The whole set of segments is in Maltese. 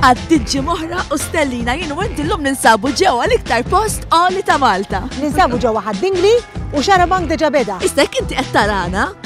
għad-diġi moħra u stellina jien u inti l-lum ninsabu ġewa l-iktar post għoli ta' Malta. Ninsabu ġewa ħaddingli u xarabank deġa beda. Issa kinti qed tarana?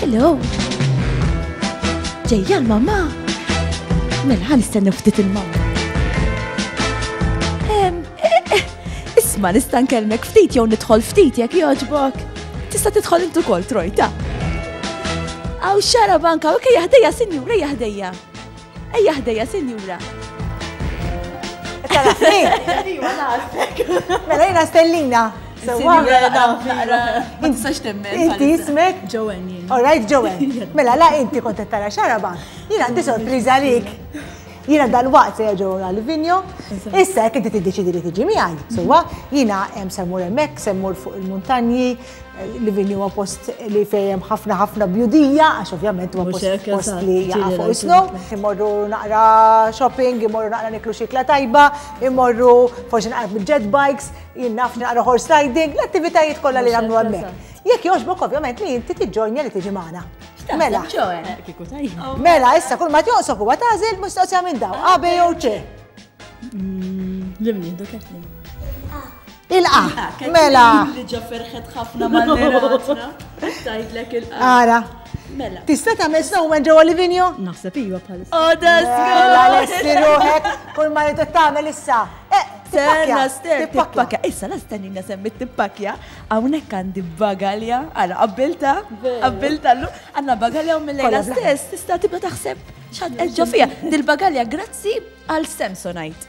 Hello! Ġejja l-mamma! Mela ħan istennu ftit il-mamma. Isma nista' nkellmek ftit jew nidħol ftit jekk jogħġbok. Tista' tidħol intu kol trojta. Aw xara banka, ok jaħdejja sinjura jaħdejja. Ejja ħdejja, sinjura. Tal-ħni! Iwa, naħsek. Mela jina stellina. Ma tistax temmen. Inti jismek? Joanne jien. All right, Joanne. Mela la inti kont tara xaraba. Jien għandi sorpriża għalik. Jiena dal-waqt se ġew għal vinjo. Issa jekk inti tiddeċidi li tiġi miegħi, sewwa jiena hemm semmur hemmhekk, semmur fuq il-muntanji, Livini huwa post li fejjem ħafna ħafna bjudija, għax ovvjament huwa post li jaqafu isnu. Imorru naqra shopping, imorru naqra niklu xikla tajba, imorru forsi naqra bil-jet bikes, jinnaf naqra horse riding, l-attivitajiet kollha li nagħmlu hemmhekk. Jekk jogħġbok ovvjament li inti tiġġojnja li tiġi magħna. Mela. Oh. Mela, issa kull ma tjoqsok huwa tażel mistoqsija minn daw, A, B jew C. Mm, Limni, doketni. Ilqa, mela. Li ġa ferħet ħafna ma' l-ratna. Tajdlek ilqa. Ara. Mela. Tista' tagħmel snowman ġewwa Livinjo? Naħseb iva bħal. Odas. Oh, mela lesti ruħek kull ma jrid tagħmel issa. Eh, Sena ster tippakja. Issa la stenni nasem tippakja hawnhekk għandi bagalja għal qabbilta, qabbilta llu għandna bagalja u mill-lejla stess tista' tibda taħseb x'għad ġo fija. Dil-bagalja grazzi għal Samsonite.